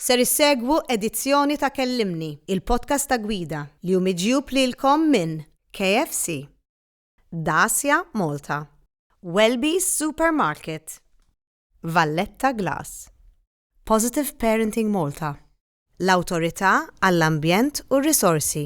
Ser issegwu edizzjoni ta' Kellimni, il-podcast ta' gwida li hu miġjub lilkom minn KFC, Dacia Malta, Welby's Supermarket, Valletta Glass, Positive Parenting Malta, l-Awtorità għall-Ambjent u r-Risorsi.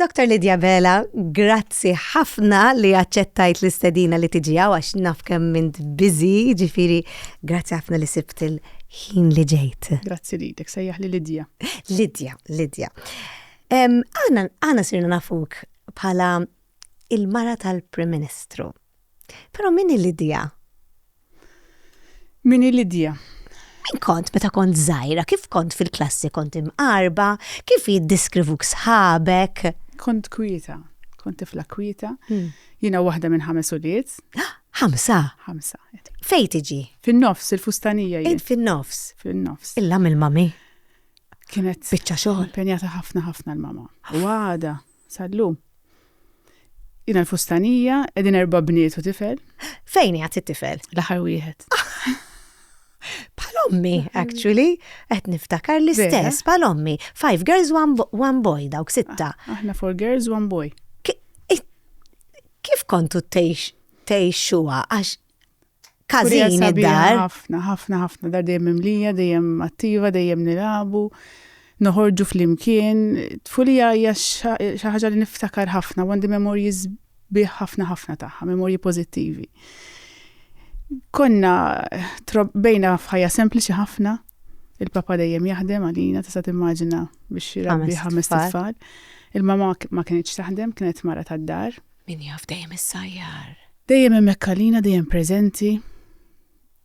Doktor Lydia Vela, grazzi ħafna li aċċettajt l-istedina li tiġi hawn għax naf kemm int busy, ġifieri grazzi ħafna li sibt il-ħin li ġejt. Grazzi lilek, sejjaħ li Lydia. Lydia, Lydia. Aħna sirna nafuk bħala il-mara tal-Prim Ministru. Però min hi Lidia? Min hi Lidia? Min kont meta kont żgħira? Kif kont fil-klassi? Kont imqarba? Kif jiddiskrivuk sħabek? Kont kwieta, kont tifla kwieta. Hmm. Jiena waħda minn ħames ulied. Ħamsa? Ħamsa. Fejn tiġi? Fin-nofs, il-fustanija jien. Fin-nofs? Fin-nofs. Illa mill-mami? Kienet. Biċċa xogħol. Penjata ħafna ħafna l-mama. Wada. Sal-lum. Jiena l-fustanija, qegħdin erba' bniet u tifel. Fejn qiegħed it-tifel? L-aħħar wieħed. Palommi, actually, qed niftakar l-istess, palommi. Five girls, one, bo- one boy, dawk sitta. Aħna four girls, one boy. Ki- i- Kif kontu tgħix tgħixuha għax Każin id-dar. Ħafna, ħafna, ħafna dar dejjem imlija, dejjem attiva, dejjem nilabu, noħorġu flimkien. Tfulija hija xi ħaġa li niftakar ħafna, għandi memorji sbieħ ħafna ħafna tagħha, memorji pożittivi. Konna bejna f'ħajja sempliċi ħafna, il-papa dejjem jaħdem għalina, tista' timmaġina biex jirabbi ħames tfal. Il-mama ma kienx taħdem, kienet mara tad-dar, Min jaf dejjem is-sajjar. Dejjem hemmhekk għalina, dejjem preżenti.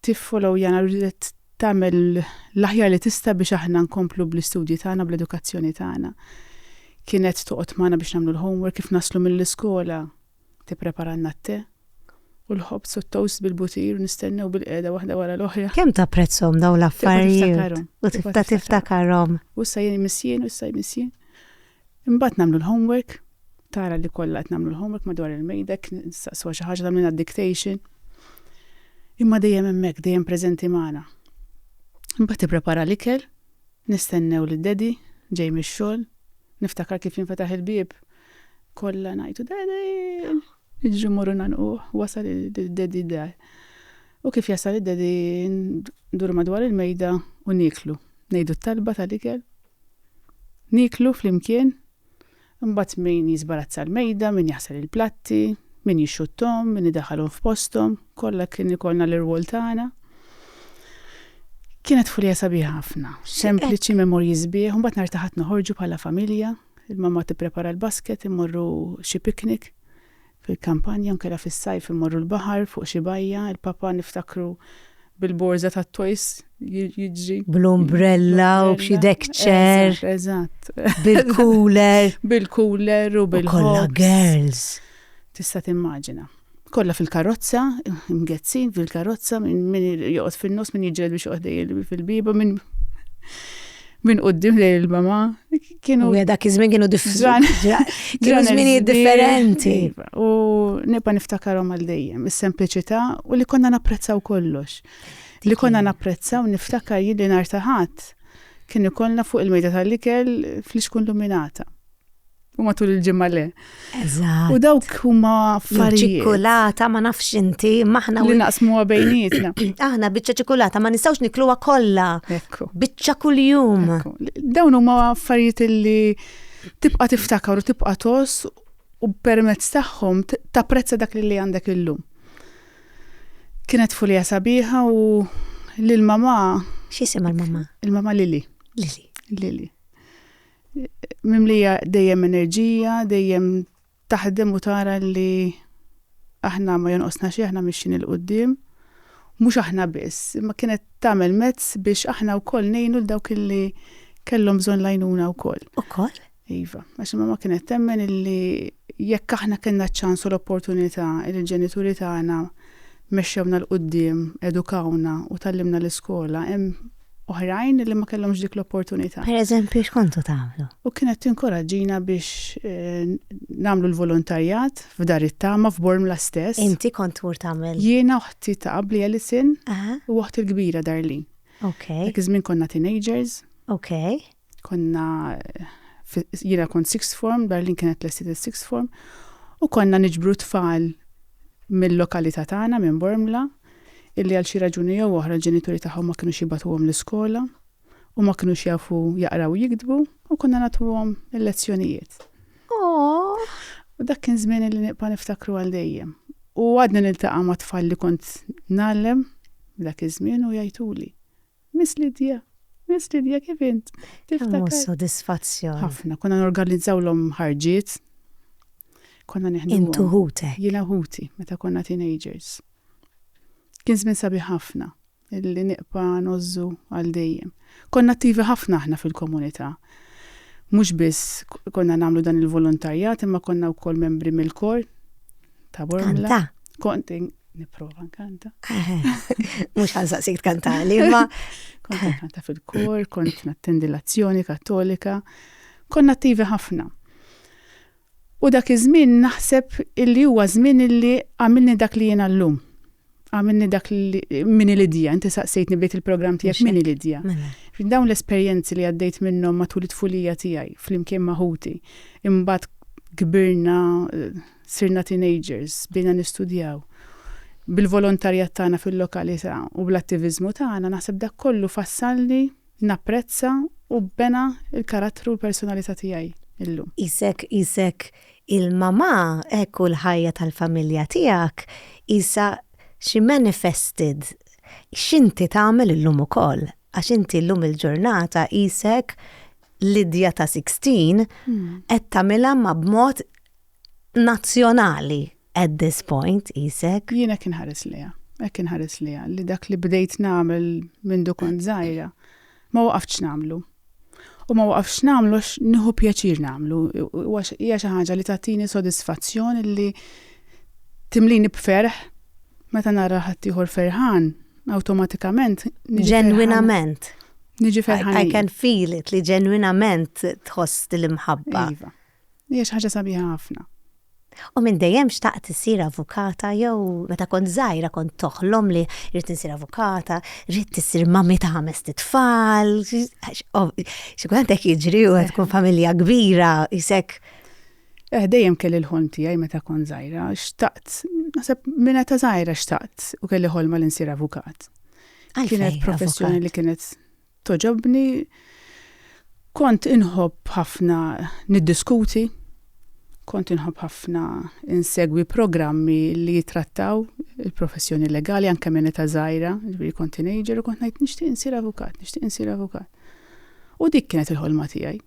Tiffollow jana ridet tagħmel l-aħjar li tista' biex aħna nkomplu bl-istudji tagħna, bl-edukazzjoni tagħna. Kienet toqgħod magħna biex nagħmlu l-homework kif naslu mill-iskola tippreparalna t-te u l-ħobz u t-toast bil-butir u nistennew bil-qeda waħda wara l-oħra. Kemm tapprezzhom dawn l-affarijiet? U tibda tiftakarhom. U issa jien missien, u issa missien. Imbagħad nagħmlu l-homework, tara li kollha qed nagħmlu l-homework madwar il-mejdek, nistaqsuha xi ħaġa, tagħmlilna d-dictation. Imma dejjem hemmhekk, dejjem preżenti magħna. Imbagħad tipprepara l-ikel, nistennew lil Daddy ġej mix-xogħol, niftakar kif jinfetaħ il-bieb, kollha ngħidu Daddy! Niġru mmorru ngħannquh, wasal id-Daddy d-dar. U kif jasal id-Daddy nduru madwar il-mejda u nieklu, ngħidu t-talba tal-ikel, Nieklu flimkien, imbagħad min jiżbarazza l-mejda, min jaħsel il-platti, min jixxutthom, min idaħħalhom f'posthom, kollha kien ikollna l-irwol tagħna. Kienet fulija sabiħa ħafna, sempliċi, memorji sbieħ, imbagħad nhar ta' Ħadd noħorġu bħala familja, il-mamma tipprepara l-basket, immorru xi picnic, fil-kampanja u nkella fis-sajf immorru l-baħar fuq xi bajja, il-Papa niftakru bil-borża tat-toys jiġri. Bl-umbrella u b'xi deck chair. Eżatt. Bil-cooler. Bil-cooler u bil-ħoss. Kollha girls. Tista' timmaġina. Kollha fil-karozza, mgezzin fil-karozza, min joqgħod fin-nofs, min jiġġieled biex joqgħod fil-bieba, min. minn qoddim lejn il-mama kienu. U dak iż-żmien kienu differenti. differenti. Iva, u nibqa' niftakarom għal dejjem is-sempliċità u li konna napprezzaw kollox. Li konna napprezzaw niftakar jien li nar taħat kien ikollna fuq il-mejda tal-ikel fl-iskun luminata. u matul il-ġimma le. U dawk huma affarijiet. Ċikulata ma nafx inti, maħna li naqsmu bejnietna. Aħna biċċa ċikulata ma nistgħux nikluha kollha. Ekku. Biċċa kuljum. Dawn huma affarijiet li tibqa' tiftakar u tibqa' tos u permezz tagħhom tapprezza dak li għandek illum. Kienet fulija sabiħa u lil mama. X'isem il-mama? Il-mama Lili. Lili. Lili. mimlija dejjem enerġija, dejjem taħdem u tara li aħna ma jonqosna xi aħna mixin il-qudiem. Mhux aħna biss, imma kienet tagħmel mezz biex aħna wkoll ngħinu l dawk illi kellhom bżonn lajnuna wkoll. Ukoll? Iva, għax imma ma kienet temmen illi jekk aħna kellna ċans u l-opportunità li l-ġenituri tagħna mexxewna l-qudiem, edukawna u tallimna l-iskola, hemm oħrajn li ma kellhomx dik l-opportunità. Per eżempju, x'kontu tagħmlu? U kienet tinkoraġġina biex eh, nagħmlu l-volontarjat f'dar it-tama f'Bormla stess. Inti kont tmur tagħmel. Jiena oħti ta' qabli Alison u oħti l-kbira Darlin. Ok. Dak iż-żmien konna teenagers. Ok. Konna jiena kont sixth form, Darlin kienet lestiet is-sixth form, u konna niġbru tfal mill-lokalità tagħna minn Bormla illi għal xi raġuni jew oħra l-ġenituri tagħhom ma kinux jibatuhom l-iskola u ma kinux jafu jaqraw jiktbu u konna nagħtuhom il-lezzjonijiet. Oh. U dak kien żmien li nibqa' niftakru għal dejjem. U għadni niltaqa' ma' tfal li kont nallem dak iż-żmien u jajtuli. Miss Lydia! Miss Lydia, kif int? Niftakar. Kemm hu sodisfazzjon! Ħafna. Konna norganizawlhom ħarġiet. Konna neħduhom. Int u ħutek. Jiena u ħuti, meta konna teenagers. Kien żmien sabiħ ħafna, li nibqa' ngħożżu għal dejjem. Konna attivi ħafna aħna fil-komunità. Mhux biss konna nagħmlu dan il-volontarjat imma konna wkoll membri mill-kor. Ta' Bormla. Kont niprofa nkanta. Mhux ħansaqsik tkantali, imma. Kont nkanta fil-kor, kont nattendi l-azzjoni kattolika, konna attivi ħafna. U dak iż-żmien naħseb illi huwa żmien illi għamilni dak li jiena llum. Għamilni dak minni Lidja, inti saqsejtni bdejt il-programm tiegħek minni Lidja. Mela. Dawn l-esperjenzi li għaddejt minnhom matul it-tfulija tiegħi flimkien ma' ħuti, imbagħad kbirna sirna teenagers, bdejna nistudjaw bil-volontarjat tagħna fil-lokalità u bl-attiviżmu tagħna naħseb dak kollu fassalni napprezza u bena il-karattru u l-personalità tiegħi illum. Isek, isek Il-mamà hekk u l-ħajja tal-familja tiegħek qisha xi manifested x'inti tagħmel illum ukoll għax inti llum il-ġurnata qisek Lydia ta' sixteen qed tagħmilha ma' b'mod nazzjonali at this point qisek. Jien hekk inħares lejha. Hekk inħares lejha li dak li bdejt nagħmel mindu kont żgħira. Ma waqaftx nagħmlu. U ma waqaftx nagħmlu għax nieħu pjaċir nagħmlu. Hija xi ħaġa li tagħtini sodisfazzjon li timlini b'ferħ meta nara ħaddieħor ferħan, awtomatikament. Ġenwinament. Niġi ferħan. I can feel it li ġenwinament tħoss l-imħabba. Iva. Hija xi ħaġa sabiħa ħafna. U minn dejjem xtaqt issir avukata jew meta kont żgħira kont toħlom li rrid insir avukata, rrid issir mammi ta' ħames tfal. Xi kultant hekk jiġri u tkun familja kbira isek. Eh dejjem kelli l-ħolm tiegħi meta kont żgħira, xtaqt, naħseb minn ta' żgħira xtaqt u kelli ħolma li nsir avukat. Kienet professjoni li kienet togħġobni. Kont inħobb ħafna niddiskuti, kont inħobb ħafna insegwi programmi li jitrattaw il-professjoni legali anke minn età żgħira, ġifieri kont teenager u kont ngħid nixtieq insir avukat, nixtieq insir avukat. U dik kienet il-ħolma tiegħi.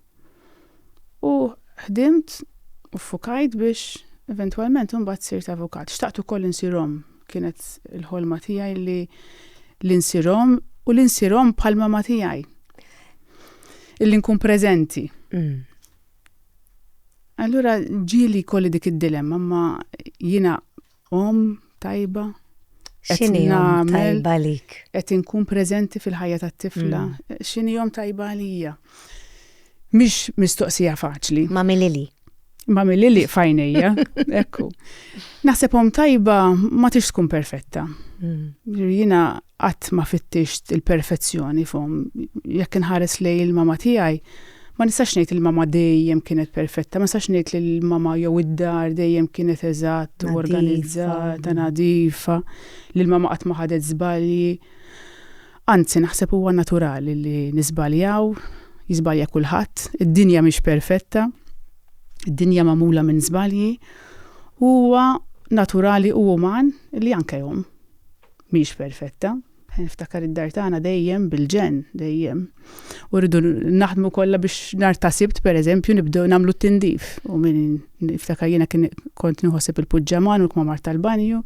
U ħdimt u ffukajt biex eventwalment imbagħad sirt avukat. Xtaqt ukoll li nsir omm. Kienet il-ħolma tiegħi li li nsir omm u li nsir omm bħal mama tiegħi. Illi nkun preżenti. Allura ġieli jkolli dik id-dilemma ma jiena Omm tajba. X'inhi omm tajba lik? Qed inkun preżenti fil-ħajja tat-tifla. Mm. X'inhi omm tajba għalija? Mhix mistoqsija faċli. Ma' milili. Ma' milili fajnejja, ekku. Naħseb omm tajba ma tix tkun perfetta. Mm. Jiena qatt ma fittixt il-perfezzjoni f'omm. Jekk inħares lejn il-mama tiegħi, Ma nistax ngħid li l-mamma dejjem kienet perfetta, ma nistax ngħid li l-mamma jew id-dar dejjem kienet eżatt u organizzata, nadifa, li l-mamma qatt ma ħadet żbalji. Anzi, naħseb huwa naturali li niżbaljaw, jiżbalja kulħadd, id-dinja mhix perfetta, id-dinja magħmula minn żbalji, u huwa naturali u uman li anke omm mhix perfetta. Niftakar id-dar tagħna dejjem bil-ġenn, dejjem. U rridu naħdmu kollha biex nhar ta' Sibt pereżempju nibdew nagħmlu t-tindif. U min niftakar jiena kien kont nieħoseb il-puġġaman u l-kmamar tal-banju.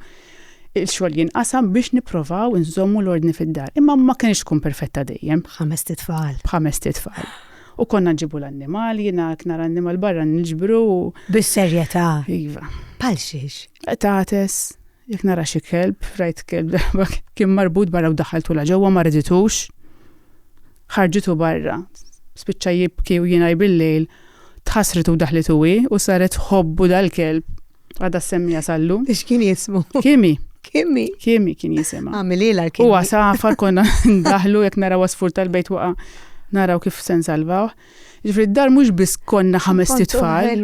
Il-xogħol jinqasam biex nipprovaw inżommu l-ordni fid-dar. Imma ma kienx tkun perfetta dejjem. B'ħamest itfal. B'ħamest itfal. U konna nġibu l-annimal, jiena jekk nara annimal barra niġbru u. Bis-serjetà? Iva. Bħal xiex? Qtates. Jekk nara xi kelb, rajt kelb darba kien marbut barra u daħħaltulha ġewwa ma riditux. Ħarġitu barra, spiċċa jibki u jingħi bil-lejl, tħassret u daħlitu hi u saret tħobbu dal-kelb. Għadha ssemmiha sal-lum. X'kien jismu? Kimi. Kimi? Kimi kien jisimha. Għamililha l-kimi. Huwa safar konna ndaħlu jekk naraw għasfur tal-bejt waqa' naraw kif se nsalvawh. Ġifri d-dar mhux biss konna ħames titfal.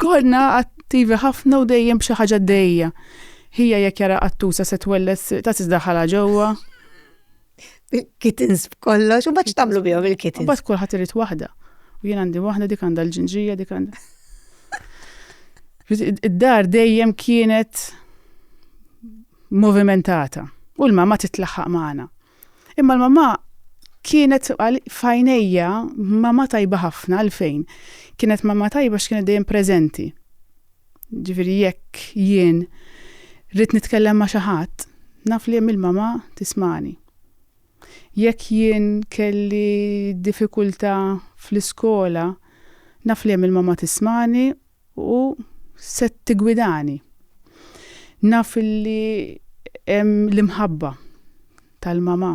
Konna attivi ħafna u dejjem b'xi ħaġa dejja. Hija jekk jara qattusa se twellet ta' tisdaħħalha ġewwa. Kittens b'kollox, u baċ tamlu bihom il-kittens. Baċ kulħadd irid waħda. U jien għandi waħda dik għandha l-ġinġija dik għandha. Id-dar dejjem kienet movimentata u l-mama titlaħħaq magħna. Imma l-mamà kienet f'għajnejja mamà tajba ħafna għalfejn. Kienet mamà tajba x'kienet dejjem preżenti. Ġifieri jekk jien rrid nitkellem ma' xi ħadd, naf li hemm il-mamà tismagħni. Jekk jien kelli diffikultà fl-iskola, naf li hemm il-mamà tismagħni U se tiggwidani. Naf li hemm l-imħabba tal-mamà.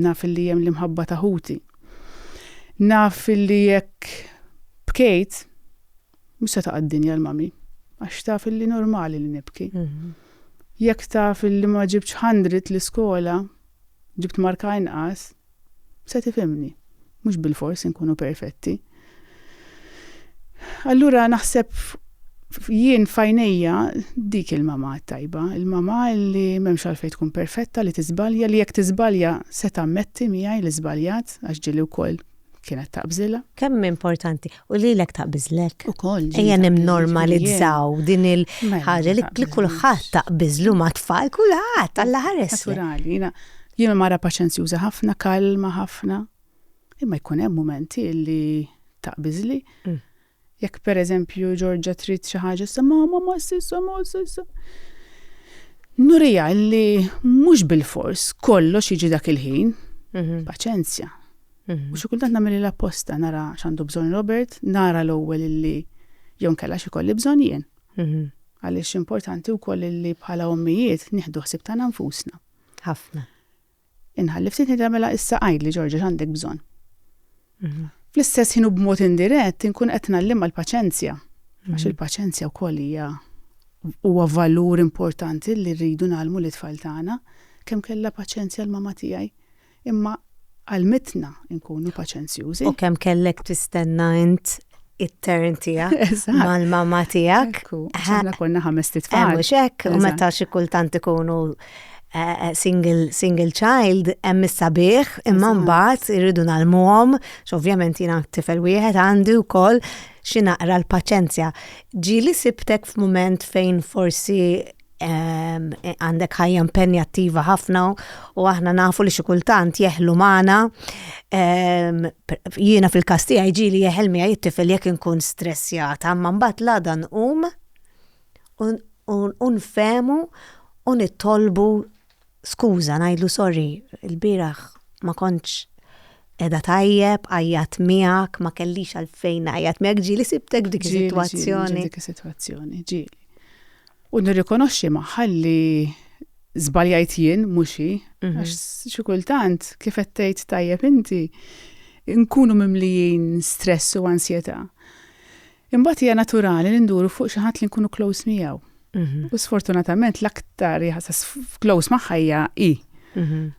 Naf li hemm l-imħabba ta' ħuti. Naf li jekk bkejt, mhux se taqa' d-dinja l-mami, għax taf li normali li nibki. Jekk taf li ma ġibtx hundred l-iskola, ġibt marka inqas, Se tifhimni, mhux bilfors inkunu perfetti. Allura naħseb jien f'għajnejja dik il-mamà t-tajba, il-mamà li m'hemmx għalfejn tkun perfetta, li tiżbalja, li jekk tiżbalja se tammetti miegħi li żbaljat għax ġieli wkoll kienet taqbżilha. Kemm importanti. U lilek taqbiżlek. Ukoll. Ejja nimnormalizzaw din mela, il-ħaġa li mela, kulħadd taqbiżlu ma' tfal, kulħadd alla ħares. Naturali, jiena jiena mara paċenzjuża ħafna, kalma ħafna. Imma jkun hemm mumenti li taqbiżli. Mm. Jekk pereżempju Ġorġa trid xi ħaġa sa ma ma ma sissa ma sissa. Nurija li mhux bil-fors kollox jiġi dak il-ħin. Mhm. Paċenzja. U xi kultant nagħmel l-apposta nara x'għandu bżonn Robert, nara l-ewwel illi jew nkella x'ikolli bżonn jien. Għaliex importanti wkoll illi bħala ommijiet nieħdu ħsieb tagħna nfusna. Ħafna. Inħalli ftit ngħidha mela issa għidli Ġorġa x'għandek bżonn. Mhm. Fl-istess ħin u b'mod indirett inkun qed nallim l-paċenzja. Mhm. Għax il-paċenzja wkoll hija huwa valur importanti li rridu nagħlmu l-itfal tagħna kemm kellha paċenzja l-mama tiegħi. Imma għalmitna nkunu paċenzjużi. U kemm kellek tistenna int it-turn tiegħek mal-mamma tiegħek. Aħna konna ħames titfal. Mhux hekk, u meta xi kultant ikunu eh, eh, single, single child hemm is-sabiħ imma mbagħad irridu nagħlmuhom, x'ovvjament jiena tifel wieħed għandi wkoll xi naqra l-paċenzja. Ġieli sibtek f'mument fejn forsi għandek ħajja impenjattiva ħafna u aħna nafu li xi kultant jeħlu magħna. Jiena fil-każ tiegħi ġieli jeħel miegħi t-tifel jekk inkun stressjata, imma mbagħad l-għada nqum u nfehmu u nitolbu Skuża, ngħidlu sorry, ilbieraħ ma kontx qiegħda tajjeb, għajjatt miegħek, ma kellix għalfejn ngħajjat miegħek, ġieli sibtek f'dik is-sitwazzjoni. Dik is-sitwazzjoni, ġieli. U nirrikonoxxi magħha li żbaljajt jien mhux hi, mhm. għax xi kultant kif qed tgħid tajjeb inti nkunu mimlijin stress u ansjetà. Imbagħad hija naturali li nduru fuq xi ħadd li nkunu close miegħu. U sfortunatament l-aktar jaħsas close magħha hija hi.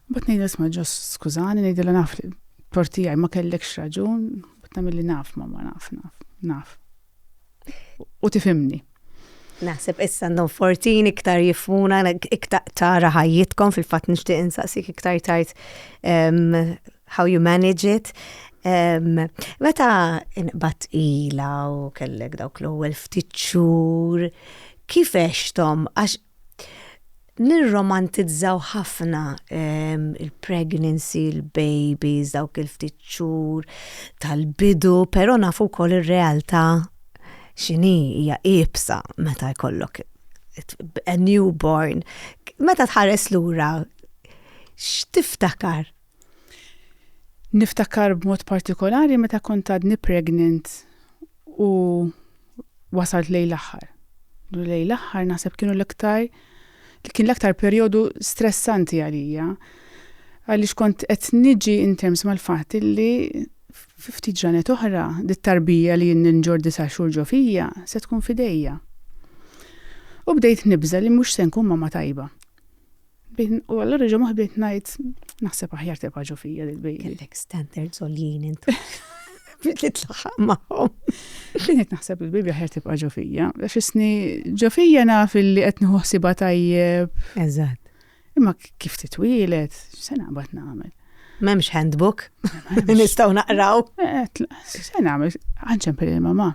Mbagħad ngħidha isma' ġos skużani ngħidilha naf li tortijaj ma kellekx raġun, bad nagħmilli naf ma ma naf naf naf. U tifimni. Naħseb issa għandhom fortin iktar jifmuna, iktar tara ħajjitkom fil-fatt nixtieq insaqsik iktar tajt how you manage it. Um, meta inqbat ila u kellek dawk l-ewwel ftit xhur, kif għextom għax nirromantizzaw ħafna um, il-pregnancy, il-babies, dawk il-ftit xhur tal-bidu, però nafu wkoll ir-realtà x'inhi hija iebsa meta jkollok a newborn. Meta tħares lura x'tiftakar? Niftakar b'mod partikolari meta kont għadni pregnant u wasalt lejn l-aħħar. Lejn l-aħħar naħseb kienu l-iktar kien l-aktar perjodu stressanti għalija għaliex kont qed niġi in terms mal-fatt illi fi ftit ġranet oħra dit-tarbija li jien ninġor disa' xhur ġo fija se tkun f'idejja. U bdejt nibża' li mhux se nkun mamma tajba. Bin, u allura ġo maħbit najt, naħseb aħjar tibqa ġo fija dil bejli Kellek standard zoljien intu. Bit li tlaħaq maħom. Binet naħseb il-bibi aħjar tibqa ġo fija. Fisni ġo fija naf li qed nħossiba tajjeb. Eżatt. Imma kif titwilet, se naqbad nagħmel. M'hemmx handbook. Nistgħu naqraw. Eh, se nagħmel, għanċempel il-mama.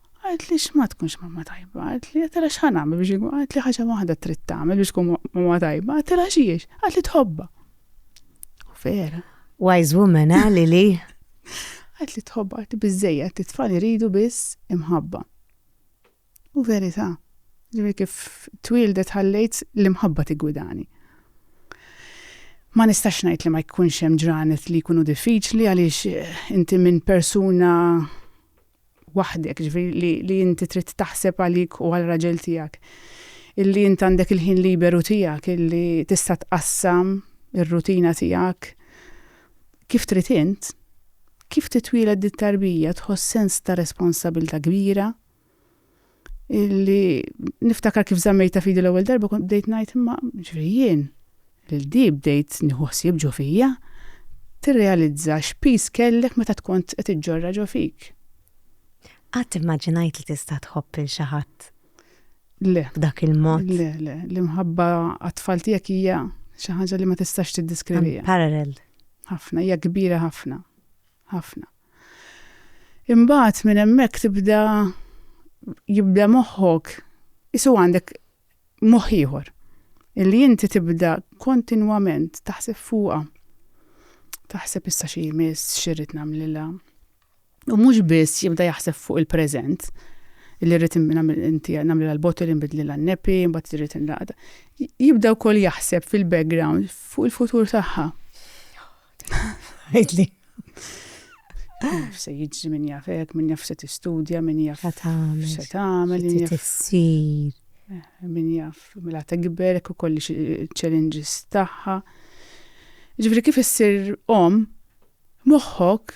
Qaltli x'ma tkunx mamma tajba, qaltli, għattilha x'ħa nagħmel biex inkun, qaltli ħaġa waħda trid tagħmel biex tkun mamma tajba, għattilha x'hiex, qaltli tħobbha. U vera. Wise woman, eh, Lili? Qaltli tħobbha, qaltli biżejjed, it-tfal iridu biss imħabba. U verità, ġifieri kif twildet ħallejt l-imħabba tigwidani. Ma nistax ngħid li ma jkunx hemm ġranet li jkunu diffiċli għaliex eh, inti minn persuna waħdek, ġifieri li li inti trid taħseb għalik u għal raġel tiegħek, illi int għandek il-ħin liberu tiegħek, illi tista' tqassam ir-rutina tiegħek kif trid int, kif titwieled dit-tarbija tħoss sens ta' responsabilità kbira, li niftakar kif zammejta fidi l-ewwel darba kont bdejt ngħid imma ġifieri jien il di bdejt nieħu ħsieb ġo fija, tirrealizza x'piż kellek meta tkont qed iġġorrha ġo fik. Qatt immaġinajt li tista' tħobb lil xi ħadd? Le. B'dak il-mod? Le, le, l-imħabba għat-tfal tiegħek hija xi ħaġa li ma tistax tiddiskriviha. Parallel. Ħafna, hija kbira ħafna. ħafna. Imbagħad minn hemmhekk tibda jibda moħħok isu għandek moħħ ieħor illi inti tibda kontinwament taħseb fuqha. Taħseb issa xi jmiss, xi rrid nagħmlilha. U mhux biss jibda jaħseb fuq il-preżent, illi rrid inti nagħmlilha l-bottle inbidlilha n-nepi, mbagħad irrid inlaqda. Jibda wkoll jaħseb fil-background fuq il-futur tagħha. Għidli. Se jiġri minn jaf hekk, minn jaf se tistudja, minn jaf se tagħmel, minn jaf tissir. Eh, minn jaf mela tikber u kolli challenges tagħha. Ġifri kif issir om moħħok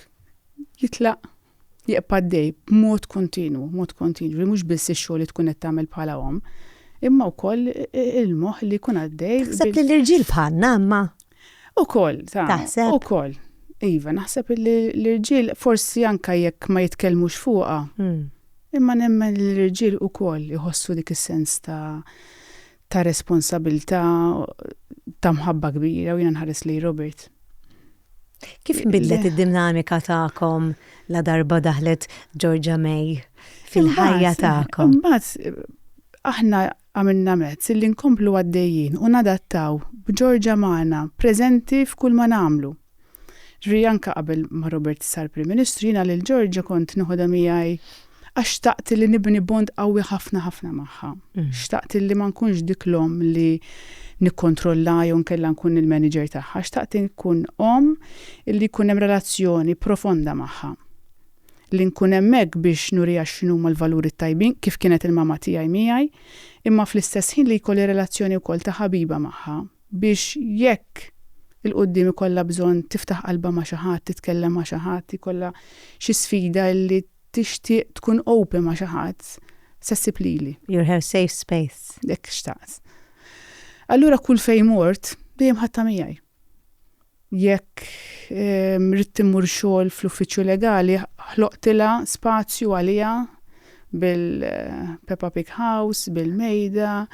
jitlaq Jibqa' għaddej b'mod kontinwu, mod kontinwu, li mhux biss ix-xogħol li tkun qed tagħmel bħala omm, imma wkoll il-moħħ li jkun għaddej. Taħseb li l-irġiel bħalna imma? Ukoll, ta. Taħseb? Ukoll. Iva, naħseb li l-irġiel forsi anke jekk ma jitkellmux fuqha, imma nemmen li l-irġiel ukoll iħossu dik is-sens ta' ta' responsabilità, ta' mħabba kbira u jiena nħares lejn Robert. Kif bidlet id-dinamika tagħkom la darba daħlet Georgia May fil-ħajja tagħkom? Imbagħad aħna għamilna mezz li nkomplu għaddejjin u nadattaw b'Georgia magħna preżenti f'kull ma nagħmlu. Ġifieri anke qabel ma Robert sar Prim Ministru jiena lil Georgia kont noħodha miegħi għax xtaqt li nibni bond qawwi ħafna ħafna magħha. Xtaqt li ma nkunx dik l-omm li nikkontrollha jew inkella nkun il-manager tagħha, xtaqt inkun omm li jkun hemm relazzjoni profonda magħha. Li nkun hemmhekk biex nuriha x'inhuma l-valuri t-tajbin, kif kienet il-mamma tiegħi miegħi, imma fl-istess ħin li jkolli relazzjoni wkoll ta' ħabiba magħha. biex jekk 'il quddiem ikollha bżonn tiftaħ qalbha ma' xi ħadd, titkellem ma' xi ħadd, jkollha xi sfida li tixtieq tkun open ma' xi ħadd, se ssib lili. You're her safe space. Hekk xtaqt. Allura kull fejn mort, dejjem ħadtha miegħi. Jekk ridt immur xogħol fl-uffiċċju legali, ħloqtilha spazju għaliha bil-Peppa Pig House, bil-mejda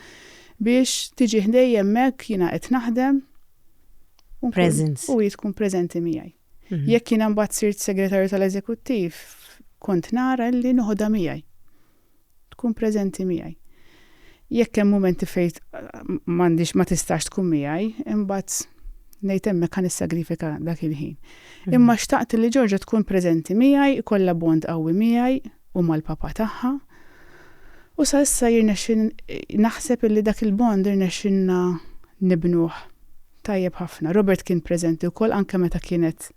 biex tiġi ħdejja hemmhekk, jiena qed naħdem u hi tkun preżenti miegħi. Jekk jiena mbagħad sirt segretarju tal-eżekuttiv, kont nara li noħodha miegħi. tkun preżenti miegħi. Jekk hemm mumenti fejn m'għandix ma tistax tkun miegħi, imbagħad ngħid hemmhekk ħa nissagrifika dak il-ħin. Mhm. Imma xtaqt li Ġorġa tkun preżenti miegħi, ikollha bond qawwi miegħi u mal-papa tagħha. U sa issa jirnexxin naħseb illi dak il-bond irnexxinna nibnuh tajjeb ħafna. Robert kien preżenti wkoll anke meta kienet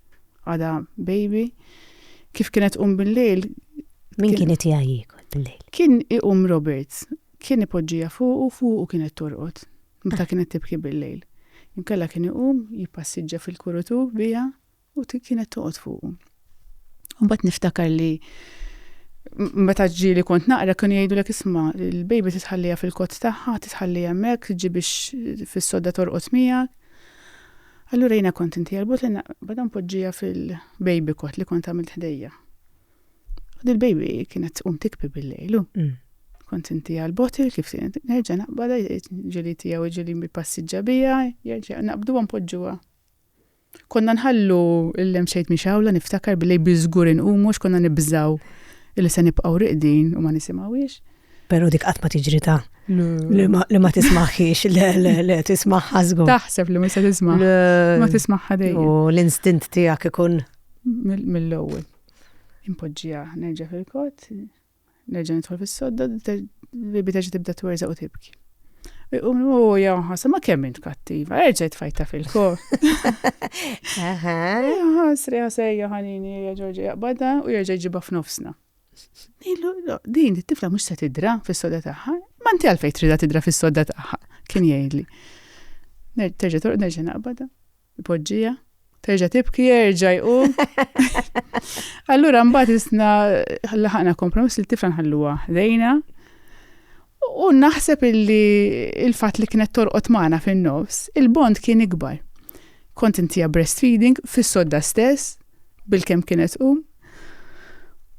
Għada baby. Kif kienet qum bil-lejl? Min kien qed jgħajjik bil-lejl? Kien iqum Robert. Kien ipoġġija fuq u fuq u kienet torqod. Meta ah. kienet tibki bil-lejl. Inkella kien iqum jippassiġġa fil-kurutu bija u kienet toqgħod fuq. Mbagħad niftakar li meta ġili kont naqra kienu jgħidu l isma' il-baby titħallija fil-kott tagħha, titħallija hemmhekk, tiġi biex fis-sodda torqod miegħek. Allura jiena kont inti għal-but li naqbad npoġġija fil-baby kot li kont għamilt ħdejja. U dil-baby kienet tqum tikbi bil-lejlu. Mm. Kont inti għal-botil kif nerġa' naqbada ġili tiegħu ġili mi passiġġa bija, jerġa' naqbdu npoġġuha. Konna nħallu l-lem xejt mi xawla niftakar bil-lejl biżgur inqumux konna nibżaw li se nibqgħu riqdin u ma nisimgħuhiex. Pero dik qatt ma tiġri ta' li ma tismaħħiex, le, le, le, tismaħħa żgur. Taħseb li ma se tisma'. Ma tismaħħa dejjem. U l-instint tiegħek ikun mill-ewwel. Impoġġija nerġa' fil-kot, nerġa' nidħol fis-sodda, bibi terġa' tibda twerża u tibki. Iqum u jawħas, ma kemm int kattiva, erġa' tfajta fil-kot. Ħasri ħasejja ħanini, ġorġi jaqbada u jerġa' jġibha f'nofsna. Ilu, din it-tifla mhux se tidra fis-soda tagħha, ma inti għalfejn tridha tidra fis-soda tagħha, kien jgħidli. Terġa' torqod nerġa' naqbadha, ipoġġija, terġa' tibki jerġa' jqum. Allura mbagħad isna laħaqna kompromiss li t-tifla nħalluha ħdejna. U naħseb illi il-fatt li kienet torqod magħna fin-nofs, il-bond kien ikbar. Kont intija breastfeeding fis-sodda stess, bil-kem kienet um,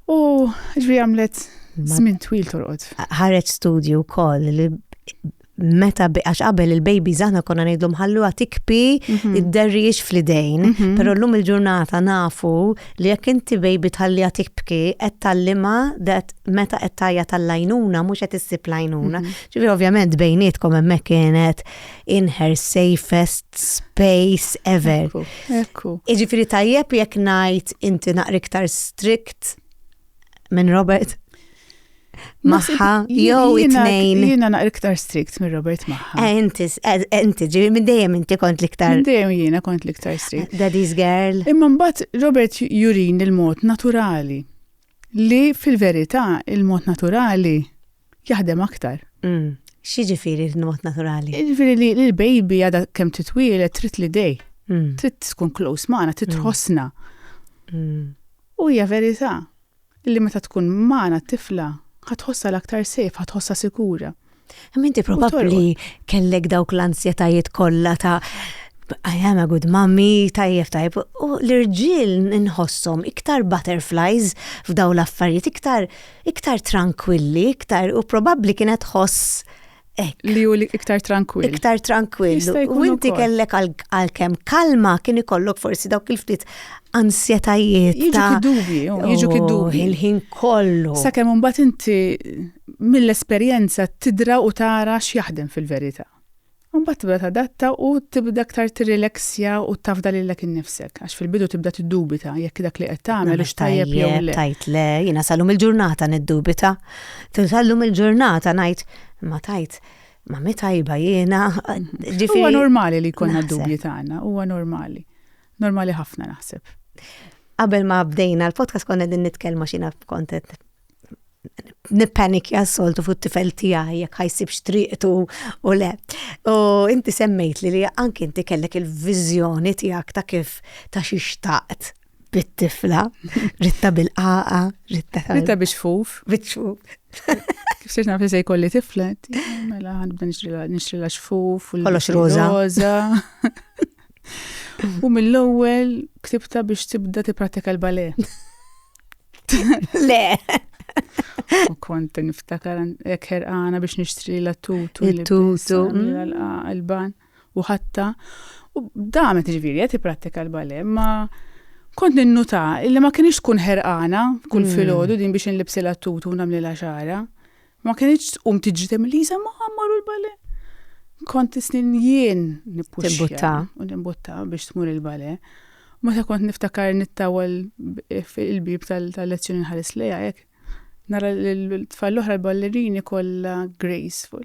U ġvi għamlet żmien twil torqod. Ħareġ studju wkoll li meta għax qabel il-baby zana konna ngħidlhom ħalluha tikpi mhm. id-derriex fl-idejn, mhm. però llum il-ġurnata nafu li jekk inti baby tħalliha tikpki qed tallima dat meta qed tajja tal-lajnuna mhux qed issib lajnuna. Mhm. Ġifi ovvjament bejnietkom hemmhekk kienet in her safest space ever. Ekku. Iġifiri tajjeb jekk ngħid inti naqri iktar strict minn Robert. Maħħa, jew it-tnejn. Jiena naqri iktar strict minn Robert Maħħa. Eh, inti, eh, inti, ġivi minn dejjem inti kont liktar. Minn dejjem jiena kont liktar strict. Eh, daddy's girl. Imma mbagħad Robert jurin il-mod naturali. Li fil-verità il-mod naturali jaħdem aktar. Mm. X'jiġifieri l-mod naturali? Jiġifieri li l-baby għadha kemm titwieled trid li dej. Mm. Trid tkun close magħna, trid mm. tħossna. Mm. U hija verità li meta tkun magħna t-tifla ħatħossa l-aktar sejf, ħatħossa sikura. Minti probabbli kellek dawk l-ansjetajiet kollha ta' I am a good mommy, tajjeb tajjeb, u l-irġiel nħossom iktar butterflies f'daw l-affarijiet, iktar Iktar trankwilli, iktar, u probabbli kienet tħoss hekk. Li hu iktar trankwill. Iktar trankwill. U inti kellek għalkemm kalma kien ikollok forsi dawk il-ftit ansjetajiet. Jiġu kid-dubji, jiġu kid-dubji. Oh, il-ħin kollu. Sakemm imbagħad inti mill-esperjenza tidra u tara x'jaħdem fil-verità. U mbagħad tibda tadatta u tibda aktar tirrileksja u tafda lilek innifsek. Għax fil-bidu tibda tiddubita jekk dak li qed tagħmel hux tajjeb jew le. Tajt le, jiena sallum il-ġurnata niddubita. Sallum il-ġurnata ngħid ma tajt ma mi tajba jiena. Huwa normali li jkollna dubji tagħna, huwa normali. Normali ħafna naħseb. Qabel ma bdejna l-podcast konna din nitkellmu xina kontet nippanikja soltu fuq tifel tiegħi jekk ħajsibx triqtu u le. U inti semmejt li anki inti kellek il-viżjoni tiegħek ta' kif ta' xi xtaqt bit-tifla, ritta bil-qaqa, ritta. Ritta biex fuf. Biex fuf. Kif sirx naf li se jkolli tiflet, mela ħanibda nixtri la xfuf. Kollox roza. U mill-ewwel ktibta biex tibda tipprattika l-bale. Le. U kont niftakar jekk ħerqana biex nixtri la tutu. Il-tutu. Il-ban. U ħatta. U damet ġviri, jgħati pratika l-bale, ma kont ninnuta illi ma kienx tkun ħerqana kull mm. filgħodu din biex nlibsi la tutu namli la xara. Ma kienx tqum tiġri tem Lisa ma għammaru l-bale. Kont snin jien nippuxxa u nimbutta biex tmur il-bale. Meta kont niftakar nittawal il-bib tal-lezzjoni nħares lejha hekk. Nara l-tfal l-oħra l-ballerini kollha graceful.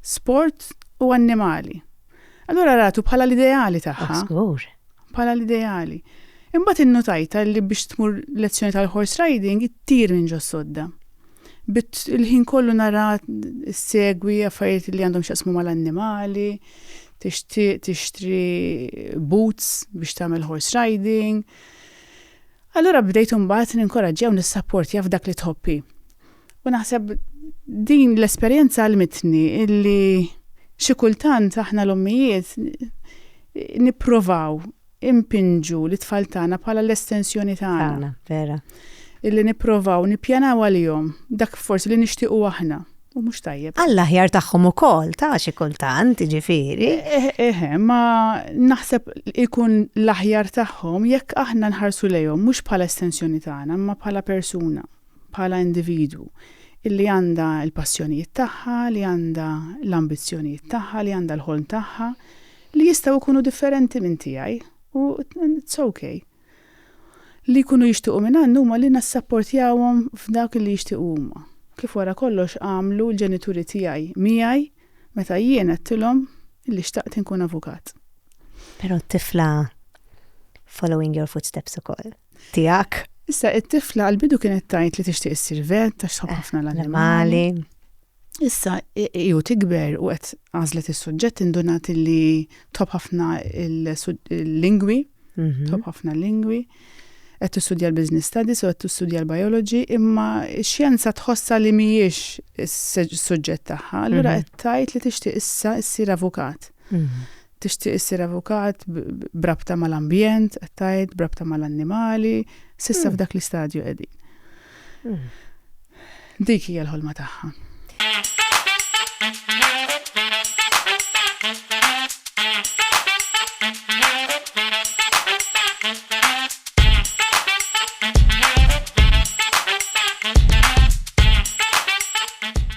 sport u annimali. Allura ratu bħala l-ideali tagħha. Ah, żgur. Bħala l-ideali. Imbagħad innutajta li biex tmur lezzjoni tal-horse riding ittir minn ġo sodda. Bit il-ħin kollu nara segwi affarijiet li għandhom x'jaqsmu mal-annimali, tixtri boots biex tagħmel horse riding. Allura bdejt imbagħad ninkoraġġi jew nissapportja f'dak li tħobbi. U naħseb din l-esperjenza għalmitni illi xi kultant aħna l-ommijiet nipprovaw impinġu li tfal tagħna bħala l-estensjoni tagħna. Vera. Illi nipprovaw nippjanaw għalihom dak forsi li nixtiequ aħna. U mhux tajjeb. Alla ħjar tagħhom ukoll ta' xi kultant, ġifieri. Eħe, eh, eh, eh, ma naħseb ikun l-aħjar tagħhom jekk aħna nħarsu lejhom mhux bħala estensjoni tagħna, ma bħala persuna. bħala individwu, illi għandha l-passjonijiet tagħha, li għandha l-ambizzjonijiet tagħha, li għandha l-ħolm tagħha, li jistgħu jkunu differenti minn tiegħi u it's ok. Li jkunu jixtiequ minn għandna huma li nassapportjawhom f'dak li jixtiequ huma, kif wara kollox għamlu l-ġenituri tiegħi miegħi meta jien għedtilhom illi xtaqt inkun avukat. Però t-tifla following your footsteps ukoll. tiegħek. Issa, it-tifla għall-bidu kienet tgħid li tixtieq issir vet għax tħobb ħafna l-annimali. Issa, ju tikber u qed għażlet is-suġġett indunat li tħobb ħafna l-lingwi, mhm. tħobb ħafna l-lingwi qed tistudja l-business studies u qed tistudja l-biology, imma x-xjenza tħossha li mhijiex is-suġġett tagħha, allura mhm. qed tgħid li tixtieq issa issir avukat. Mhm. Tixtieq issir avukat b'rabta mal-ambjent, qed tgħid, b'rabta mal-annimali, s'issa f'dak l-istadju qegħdin. Dik hija l-ħolma tagħha.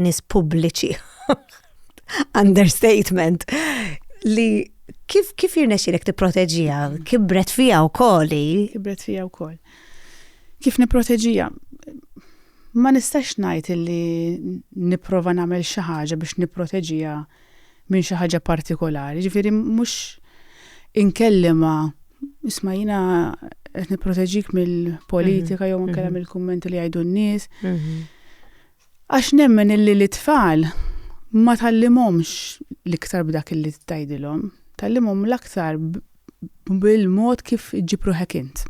nies pubbliċi. Understatement. Li kif kif jirnexxilek tipproteġija? Kibret fija wkoll. Kibret fija wkoll. Kif nipproteġija? Ma nistax ngħid li nipprova nagħmel xi ħaġa biex nipproteġija minn xi ħaġa partikolari, ġifieri mhux inkellimha isma' jiena qed nipproteġik mill-politika jew anke mill-kummenti li jgħidu n-nies. Għax nemmen illi l-itfal ma tallimhomx l-iktar b'dak illi tgħidilhom, tallimhom l-aktar bil-mod kif iġġib ruħek int.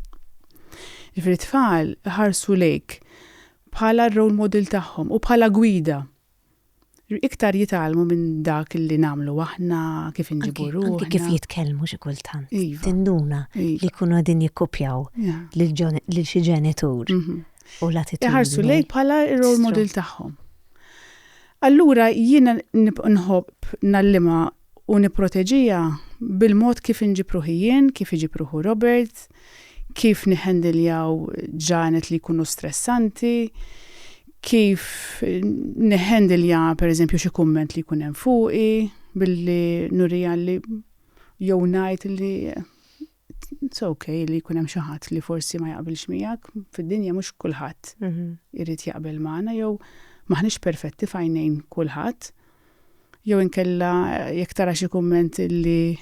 Ġifieri tfal ħarsu lejk bħala r-role model tagħhom u bħala gwida. Iktar jitgħallmu minn dak li nagħmlu aħna, kif inġibu ruħna. Anki kif jitkellmu xi kultant. Tinduna li jkunu qegħdin jikkopjaw lil xi ġenitur u l-attitudni. Iħarsu lejk bħala r-role model tagħhom. Allura jiena nħobb ngħallimha u nipproteġiha bil-mod kif inġib ruħi jien, kif iġib ruħu Robert, kif niħendiljaw ġranet li jkunu stressanti, kif niħendilja pereżempju xi kumment li jkun hemm fuqi billi nuriha li jew ngħid li it's ok li jkun hemm xi ħadd li forsi ma jaqbilx miegħek, fid-dinja mhux kulħadd irid jaqbel magħna jew m'aħniex perfetti f'għajnejn kulħadd. Jew inkella jekk tara xi kumment li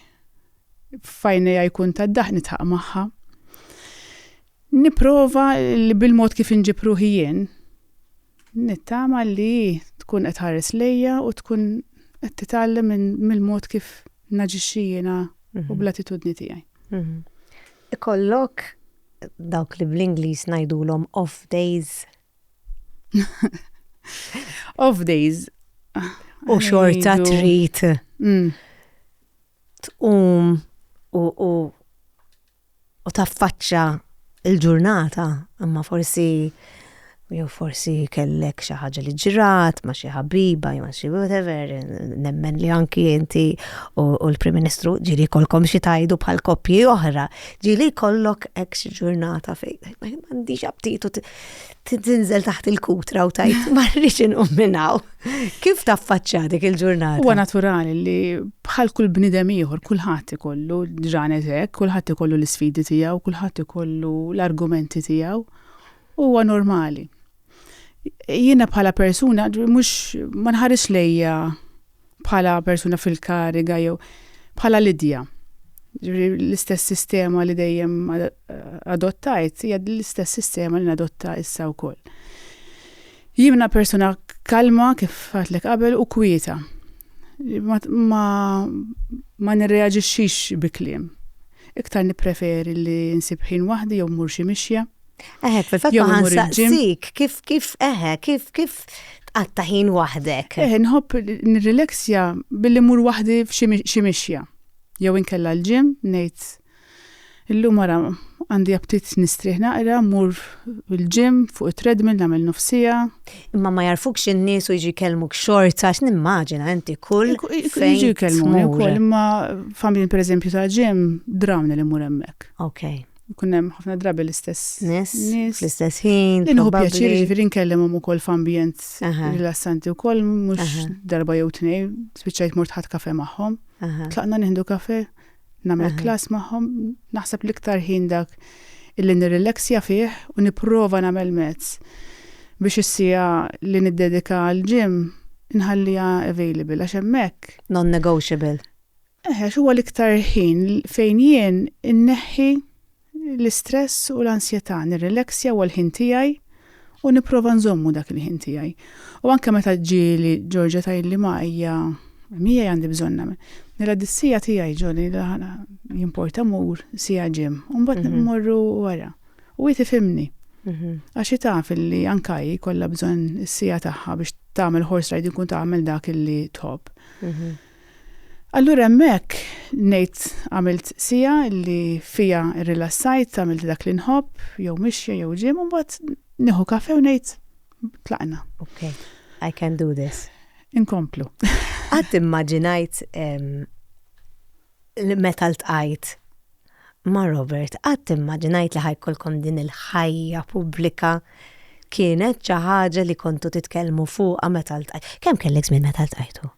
f'għajnejha jkun tad-daħq nidħaq magħha. Nipprova li bil-mod kif inġib ruħi jien, nittama li hi tkun qed tħares lejja u tkun qed titgħallem mill-mod kif naġixxi jiena u bl-attitudni tiegħi. Ikollok dawk li bl-Ingliż ngħidulhom off days? Off days. U xorta trid. Mm. Tqum u u taffaċċa l-ġurnata, imma forsi jew forsi kellek xi ħaġa li ġrat ma' xi ħabiba jew xi whatever, nemmen li anki inti u l-Prim Ministru ġieli jkollkom xi tgħidu bħal koppji oħra, ġieli jkollok hekk xi ġurnata fejn m'għandix aptit u tinżel taħt il-kutra u tajt marriċ inqum minnaw. Kif taffaċċja dik il-ġurnata? Huwa naturali li bħal kull bnidem ieħor kulħadd ikollu ġranet hekk, kulħadd ikollu l-isfidi tiegħu, kulħadd ikollu l-argumenti tiegħu. Huwa normali. Jiena bħala persuna mhux ma nħares lejja bħala persuna fil-kariga jew bħala Lidja. L-istess sistema li dejjem adottajt hija l-istess sistema li nadotta issa wkoll. Jimna persuna kalma kif għatlek qabel u kwieta. Ma, ma, ma nirreaġixxix bi kliem. Iktar nippreferi li nsib ħin waħdi jew mur xi mixja. Eħe, fil-fatt ma ħansaqsik, kif kif eħe, kif kif tqatta ħin waħdek. Eħe, nħobb nirrileksja billi mur waħdi f'xi mixja. Jew inkella l-ġim, ngħid illum wara għandi aptit nistrieħ naqra, mur l-ġim fuq it-treadmill nagħmel nofsija. Imma ma jarfukx in-nies u jiġi jkellmuk xorta għax nimmaġina inti kull fejn jiġi jkellmuk. Imma familji pereżempju ta' ġim drawni li mur hemmhekk. Okay. Ikun hemm ħafna drabi l-istess nies. Fl-istess ħin. Li nieħu pjaċir ġifieri nkellimhom ukoll f'ambjent rilassanti wkoll mhux darba jew tnejn spiċċajt mort ħadd kafe magħhom. Tlaqna nieħdu kafe, nagħmel klass magħhom, naħseb l-iktar ħin dak illi nirrilaxja fih u nipprova nagħmel mezz biex issija li niddedika għall-ġim nħalliha available għax hemmhekk. Non-negotiable. Eħex huwa l-iktar ħin fejn jien inneħħi l-istress u l-ansjetà, nirrileksja huwa l-ħin tiegħi u nipprova nżommu dak il-ħin tiegħi. U anke meta ġieli Georgia tgħidli ma ejja miegħi għandi bżonn nagħmel. Nilgħa dis-siegħa tiegħi ġoli jimporta mur siegħa ġim u mbagħad mmorru wara. U hi tifhimni. Għax hi taf li anke hi kollha bżonn is-siegħa tagħha biex tagħmel horse riding u tagħmel dak li tħobb. Allura hemmhekk ngħid għamilt siegħa li fiha rrilassajt, għamilt dak li nħobb, jew mixja jew ġim, u mbagħad nieħu kafe u ngħid tlaqna. Ok, I can do this. Inkomplu. Qatt immaġinajt li meta ltqajt ma' Robert, qatt immaġinajt li ħajkolkom din il-ħajja pubblika kienet xi ħaġa li kontu titkellmu fuqha meta ltqajt. Kemm kellek żmien meta ltqajtu?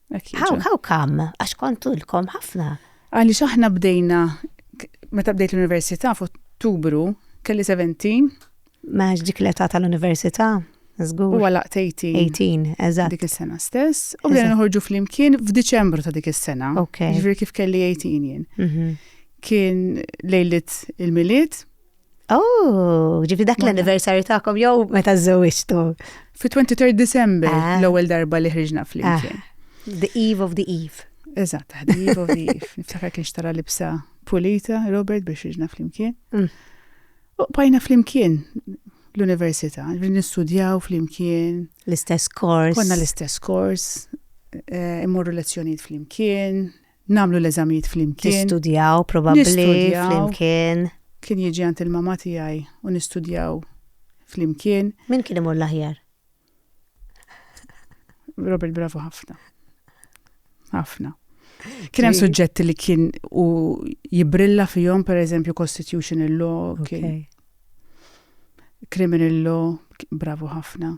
How, how come? Għax kontu l-kom ħafna. Għalli xaħna bdejna, meta bdejt l-Università f'Ottubru, kelli 17. Maħġ dik l-età tal-Università, zgur. U għalaq 18. 18, eżatt. Dik is-sena stess. U bdejna nħorġu fl-imkien f'Diċembru ta' dik is-sena. Ok. Ġviri kif kelli 18 jien. Mhm. Kien lejlit il-miliet, Oh, ġifi dak l-anniversary ta'kom jew meta żewġtu. Fi 23 December ah. l-ewwel darba li ħriġna flimkien. Ah. The Eve of the Eve. Eżatt, the Eve of the Eve. Niftakar kien xtara libsa pulita, Robert biex ħriġna flimkien. Mm. U bajna flimkien l-università, nistudjaw flimkien. L-istess kors. Konna l-istess kors, eh, immorru lezzjonijiet flimkien, nagħmlu l-eżamijiet flimkien. Tistudjaw probabbli flimkien. Kien jiġi għand il-mama tiegħi u nistudjaw flimkien. Min kien imur l-aħjar? Robert Bravo ħafna. Ħafna. Kien hemm suġġetti li kien u jibrilla fihom pereżempju constitutional law kien Criminal law, bravo ħafna.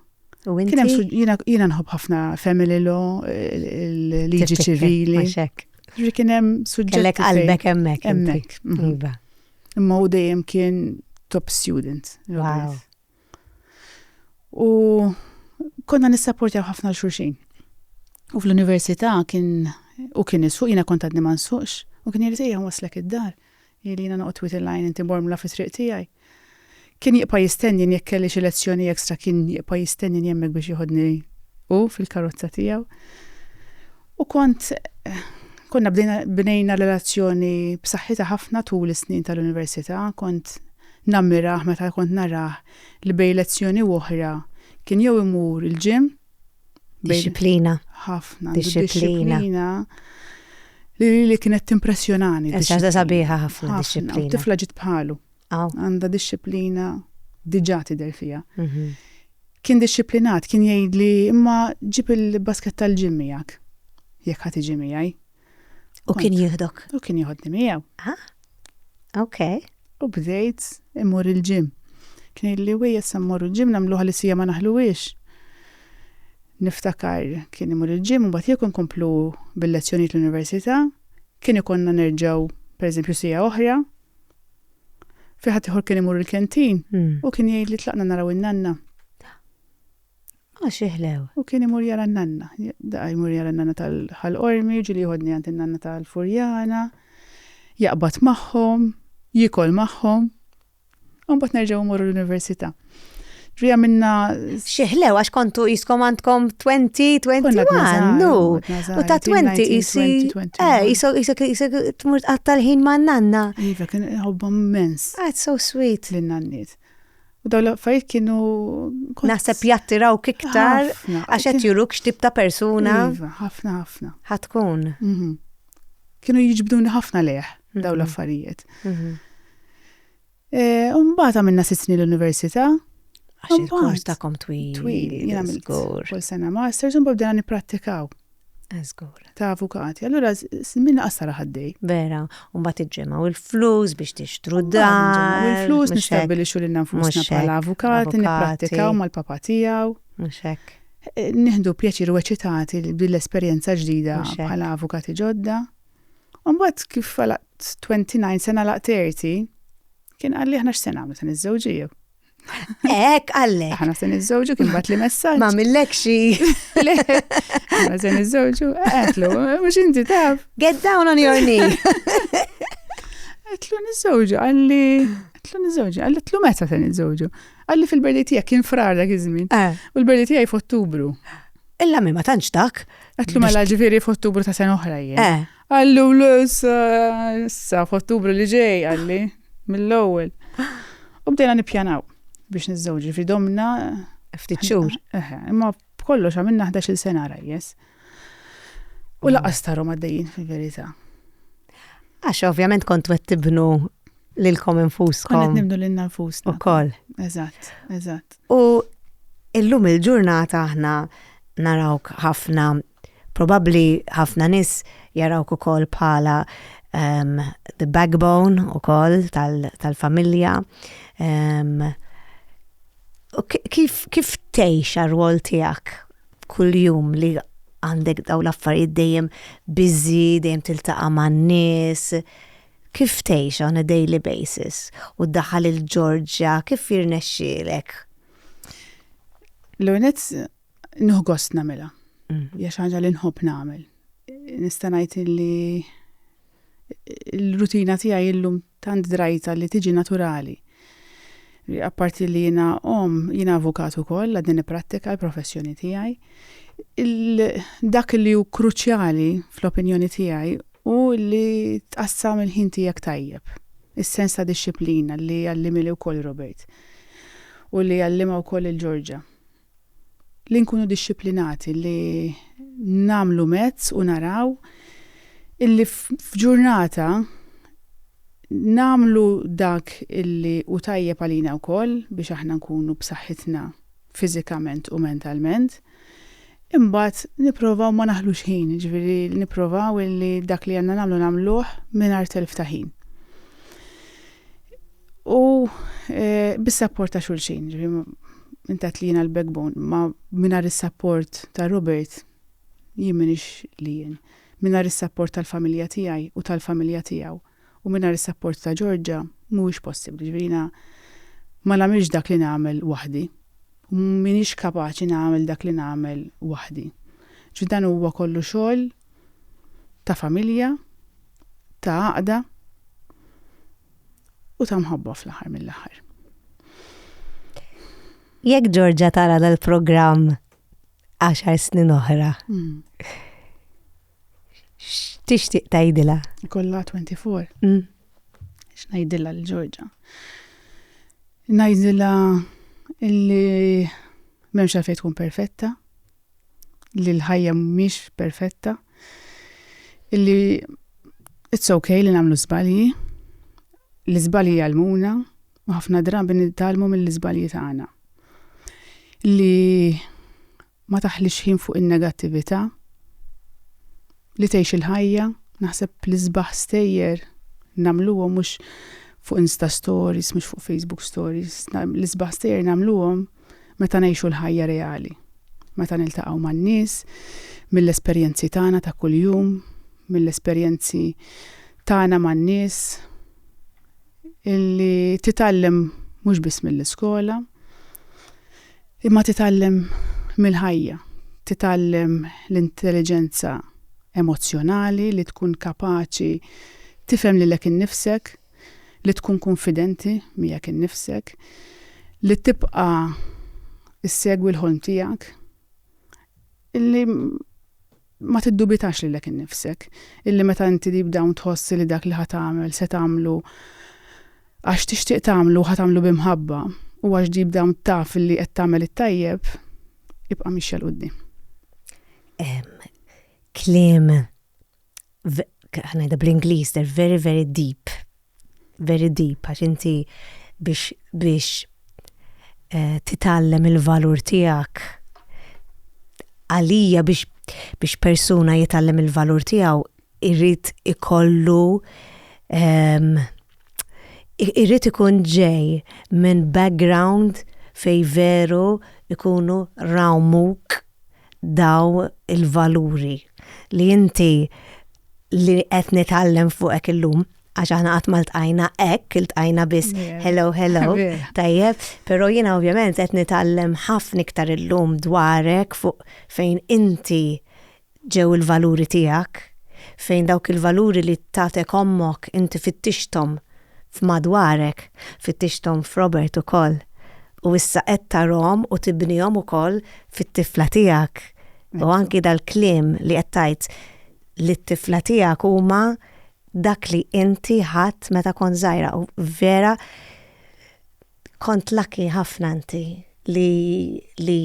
U inti? Kien hemm jiena nħobb ħafna family law, il-liġi ċivili. Ġri kien hemm suġġett. Kellek qalbek hemmhekk. Hemmhekk. Mhm. Iva. Imma u dejjem kien top student. Wow. U konna nissaportjaw ħafna l-xurxin. U fl-università kien u kien isfuq jiena kont għadni ma nsuqx u kien jirżejja waslek id-dar. Hi li jiena noqgħod twiet il-għajn inti mormla fit-triq tiegħi. Kien jibqa' jistennien jekk kelli xi lezzjoni extra kien jibqa' jistennien hemmhekk biex jieħodni hu fil-karozza tiegħu. U kont konna bdejna bnejna relazzjoni b'saħħitha ħafna tul is-snin tal-università, kont nammirah meta kont narah li bejn lezzjoni u oħra kien jew imur il-gym, Disciplina. Ħafna. Disciplina. Li li kienet timpressjonani. Eċċata sabiħa ħafna disciplina. Tifla ġit bħalu. Għanda disciplina diġa tidher fija. Mhm. Kien disciplinat, kien jgħid li imma ġib il-basket tal-ġim miegħek. Jekk ħadd iġi miegħi. U kien jieħdok? U kien jieħodni miegħu. Ah, ok. U bdejt imur il-ġim. Kien illi u jessa mmorru l-ġim namlu għalli sija ma naħluwix. Niftakar kien imur il-ġim u bat jekk nkomplu bil-lezzjoni l-università, kien ikonna nerġaw per eżempju sija oħra. Fiħat iħor kien imur il-kentin hmm. u kien jgħid li tlaqna naraw in-nanna. Għax iħlew. U kien imur jara n-nanna. Daqqa jmur jara n-nanna tal-Ħal Qormi, jiġu li jieħodni għand in-nanna tal-Furjana, jaqbad magħhom, jiekol magħhom, u mbagħad nerġgħu mmorru l-università. Ġri għamilna. Xieħlew, għax kontu jiskom għandkom 20, 21, nu. U ta' 20 jisi. Eh, jisok, jisok, jisok, tmur għatta l-ħin ma' nanna. Iva, kien għobbom mens. That's so sweet. L-nannit. U daw l-affarijiet kienu. Naħseb jattirawk iktar għax qed juruk x'tip ta' persuna. Iva, ħafna ħafna. Ħatkun. Mhm. Kienu jiġbduni ħafna leħ mhm. daw l-affarijiet. Mhm. E, Umbagħad għamilna sitt snin l-università. Għax il-kors tagħkom twil. Twil, jagħmel kull sena masters u mbagħad bdejna nipprattikaw. Żgur. Ta' avukati. Allura min laqasar ħaddej. Vera, u mbagħad iġġemgħu il-flus biex tixtru dar. U l-flus nistabbilixxu lil nfusna bħala avukati, nipprattikaw mal-papa tiegħu. Mhux hekk. Eh, nieħdu pjaċir u eċitati bil esperjenza ġdida bħala avukati ġodda. U mbagħad kif għalaq 29 sena laq 30, kien qalli aħna x'se nagħmlu se niżżewġiju. Ek, għalle. Aħna se niżżewġu kien bat li messaġġ. Ma millek xi. Aħna se niżżewġu, għetlu, mhux inti taf. Get down on your knee. Għetlu niżżewġu, għalli. Għetlu niżżewġu, għalli tlu meta se niżżewġu. Għalli fil-berdi tiegħek kien frar dak iż-żmien. Eh. U l-berdi tiegħi f'Ottubru. Illa mi ma tantx dak. Għetlu mela ġifieri f'Ottubru ta' sena oħra jien. Eh. Għallu l-issa f'Ottubru li ġej, għalli. mill-ewwel. U bdejna nippjanaw biex niżżewġ, ġifri domna. Ftit xhur. Imma b'kollox għamilna 11-il sena rajjes. U mm. laqas tarom għaddejjin fil-verità. Għax ovvjament kont wet tibnu lilkom infuskom. Kont nibnu lil nfusna. Ukoll. Eżatt, eżatt. U illum il-ġurnata aħna narawk ħafna Probabbli ħafna nies jarawk ukoll bħala um, the backbone ukoll tal-familja. Tal um, kif, kif tgħix għar-rwol tiegħek kuljum li għandek daw l-affarijiet dejjem biżi, dejjem tiltaqa' man-nies, kif tgħix on a daily basis u daħal il-Ġorġja kif jirnexxielek? L-unet Nieħu gost nagħmilha. Mm. Hija xi ħaġa li nħobb nagħmel. Nista' ngħid li l-rutina tiegħi illum tant drajta li tiġi naturali. Apparti li jiena om, jiena avukat ukoll għad din ipprattika l-professjoni tiegħi. Dak li hu kruċjali fl-opinjoni tiegħi u li tqassam il-ħin tiegħek tajjeb. Is-sens ta' disċiplina li għallimili wkoll Robert u li għallima wkoll il-Ġorġa. li nkunu dixxiplinati, li nagħmlu mezz u naraw illi f'ġurnata nagħmlu dak illi hu tajjeb għalina wkoll biex aħna nkunu b'saħħitna fiżikament u mentalment. Imbagħad nipprovaw ma naħlux ħin, jiġifieri nipprovaw illi dak li għandna nagħmlu nagħmluh mingħajr telf ta' ħin. U bis-sapport ta' xulxin, intat li jiena l-backbone, ma minar is-sapport ta' Robert jien minix li jien. Minar is-sapport tal-familja tiegħi u tal-familja tiegħu u minar is-sapport ta' Georgia mhuwiex possibbli, ġifieri jiena ma nagħmilx dak li nagħmel waħdi u minix kapaċi nagħmel dak li nagħmel waħdi. Ġifieri dan huwa kollu xogħol ta' familja, ta' għaqda. u ta' mħabba fl-aħħar mill-aħħar. Jekk Ġorġa tara dal-programm għaxar snin oħra, hmm. x'tixtieq tgħidilha? Kollha 24. Hmm. X'ngħidilha l Ġorġa? Ngħidilha illi m'hemmx għalfejn tkun perfetta, li l-ħajja mhix perfetta, illi it's okay li nagħmlu żbalji, li żbalji jgħallmuna u ħafna drabi nitgħallmu mill-iżbalji tagħna. Li ma taħlix ħin fuq in-negattività, li tgħix il-ħajja, naħseb li sbaħ stejjer nagħmluhom mhux fuq Insta Stories, mhux fuq Facebook Stories, l-isbaħ stejjer nagħmluhom meta ngħixu l-ħajja reali, meta niltaqgħu man-nies, mill-esperjenzi tagħna ta' kuljum, mill-esperjenzi tagħna man-nies, illi titgħallem mhux biss mill-iskola, imma titgħallem mill-ħajja, titgħallem l-intelliġenza emozzjonali li tkun kapaċi tifhem lilek innifsek, li tkun kunfidenti miegħek innifsek, li tibqa' issegwi l-ħolm tiegħek, illi ma tiddubitax lilek innifsek, illi meta inti deep down tħoss li dak li ħa tagħmel se tagħmlu għax tixtieq tagħmlu ħa tagħmlu bi mħabba u għax deep down taf li qed tagħmel it-tajjeb, ibqa' mixja l quddiem. Kliem ngħidha bl-Ingliż, they're very very deep, very deep, għax inti biex biex eh, titgħallem il-valur tiegħek għalija biex biex persuna jitgħallem il-valur tiegħu irrid ikollu ehm, irrid ikun ġej minn background fej veru ikunu rawmuk dawn il-valuri li inti li qed nitgħallem fuqek illum għax aħna qatt ma ltqajna hekk, iltqajna biss hello hello, tajjeb, però jiena ovvjament qed nitgħallem ħafna iktar illum dwarek fuq fejn inti ġew il-valuri tiegħek, fejn dawk il-valuri li tatek ommok inti fittixthom f'madwarek, fittixthom f'Robert ukoll, u issa qed tarahom u tibnihom ukoll fit-tifla tiegħek. U anki dal-kliem li qed tgħid lit-tifla tiegħek huma dak li inti ħadt meta kont żgħira u vera Kont lucky ħafna inti li li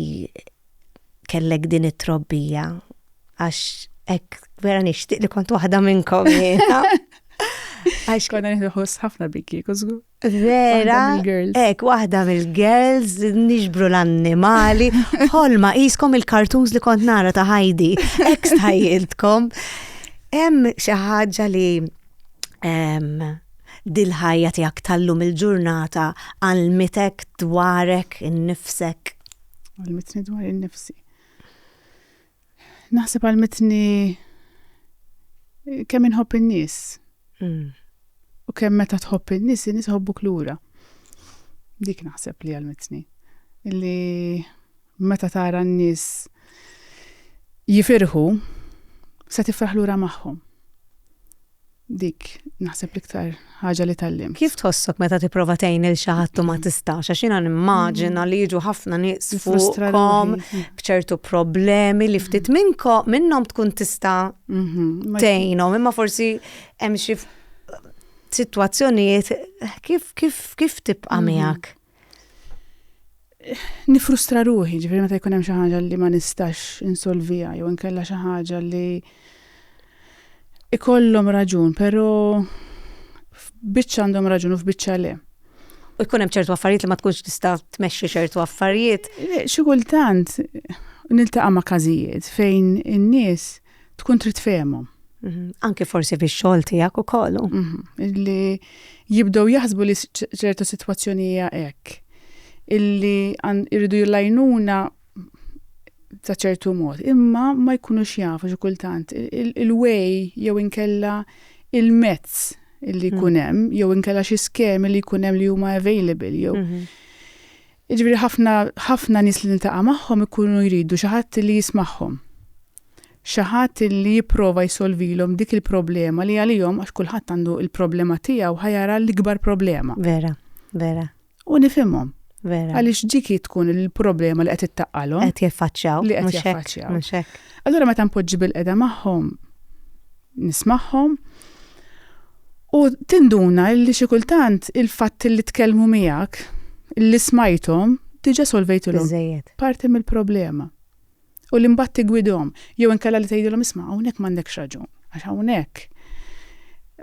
kellek din it-trobbija għax hekk vera nixtieq li kont waħda minnkom jiena. Għax konna nieħdu ħoss ħafna bikki, kużgu. Vera, ek, waħda mill-girls, nixbru l-annimali, ħolma, jiskom il-kartons li kont nara ta' ħajdi, ek stajiltkom. Hemm xi ħaġa li dil-ħajja tiegħek tal-lum il-ġurnata għallmitek dwarek innifsek? Għallmitni dwar innifsi. Naħseb għallmitni kemm inħobb in-nies. Mm. U kemm meta tħobb in-nies, in-nies ħobbuk lura. Dik naħseb li għalmitni. Illi Meta tara n-nies jifirħu, se tifraħ lura magħhom. Dik naħseb l-iktar ħaġa li tgħallimt. Kif tħossok meta tipprova tgħin lil xi ħadd u ma tistax? Għax jiena nimmaġina li jiġu ħafna nies fuqhom b'ċertu problemi li ftit minnkom minnhom tkun tista' mhm, tgħinhom, imma forsi hemm xi sitwazzjonijiet kif kif kif tibqa' mhm. miegħek? Nifrustra ruħi, ġifieri meta jkun hemm xi ħaġa li ma nistax insolvija jew inkella xi ħaġa li ikollhom raġun, però f'biċċa għandhom raġun u f'biċċa le. U jkun hemm ċertu affarijiet li ma tkunx tista' tmexxi ċertu affarijiet. Eh, xi kultant niltaqa' ma' każijiet fejn in-nies tkun trid fehmhom. Mhm. Anki forsi biex xogħol tiegħek ukoll. Mhm. Li jibdew jaħsbu li ċertu sitwazzjoni hija hekk. Illi irridu jillajnuna ta' ċertu mod, imma ma jkunux jafu xi kultant il-way jew inkella il-mezz illi jkun mm. hemm, jew inkella xi skemi li jkun hemm li huma available jew. Mhm. Iġifieri ħafna ħafna nies li niltaqa' magħhom ikunu jridu xi ħadd li jismagħhom xi ħadd li jipprova jsolvilhom dik il-problema li għalihom għax kulħadd għandu l-problema tiegħu ħa jara l-ikbar problema. Vera, vera. U nifhimhom. Vera. Għaliex dik tkun il-problema li qed ittaqqalhom. Qed jaffaċċjaw. Li qed jaffaċċjaw. Allura meta npoġġi bil-qeda magħhom nismagħhom u tinduna li xi kultant il-fatt li tkellmu miegħek li smajthom diġà solvejtilhom parti mill-problema. u li mbagħad tiggwidhom jew inkella li tgħidilhom isma' hawnhekk m'għandekx raġun għax hawnhekk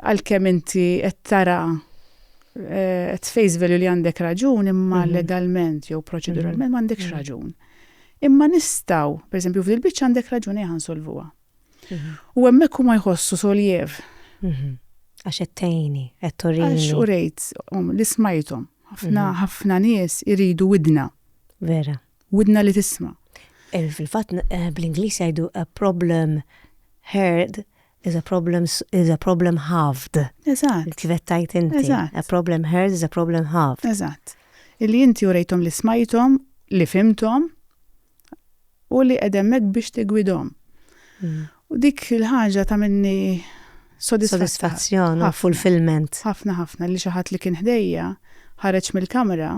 għalkemm inti qed tara eh, qed face value li għandek raġun imma mhm. legalment jew proċeduralment mhm. m'għandekx mhm. raġun. Imma nistgħu, pereżempju f'dil biċċa għandek raġun ejja nsolvuha. U hemmhekk huma jħossu soljev. Għax qed tgħini, qed turini. Għax u rejt um, li smajthom. Ħafna ħafna nies iridu widna. Vera. Widna li tisma'. Eh, fil-fatt eh, bl-Ingliż jgħidu a problem heard is a problem is a problem halved. Eżatt. Kif qed tajt inti. Eżatt. A problem heard is a problem halved. Eżatt. Illi inti urejthom li smajthom, li fimthom u li qedemmek biex tigwidhom. Mm. U dik il-ħaġa ta' minni sodisfazzjon u fulfillment. Ħafna ħafna li xi ħadd li kien ħdejja ħareġ mill-kamra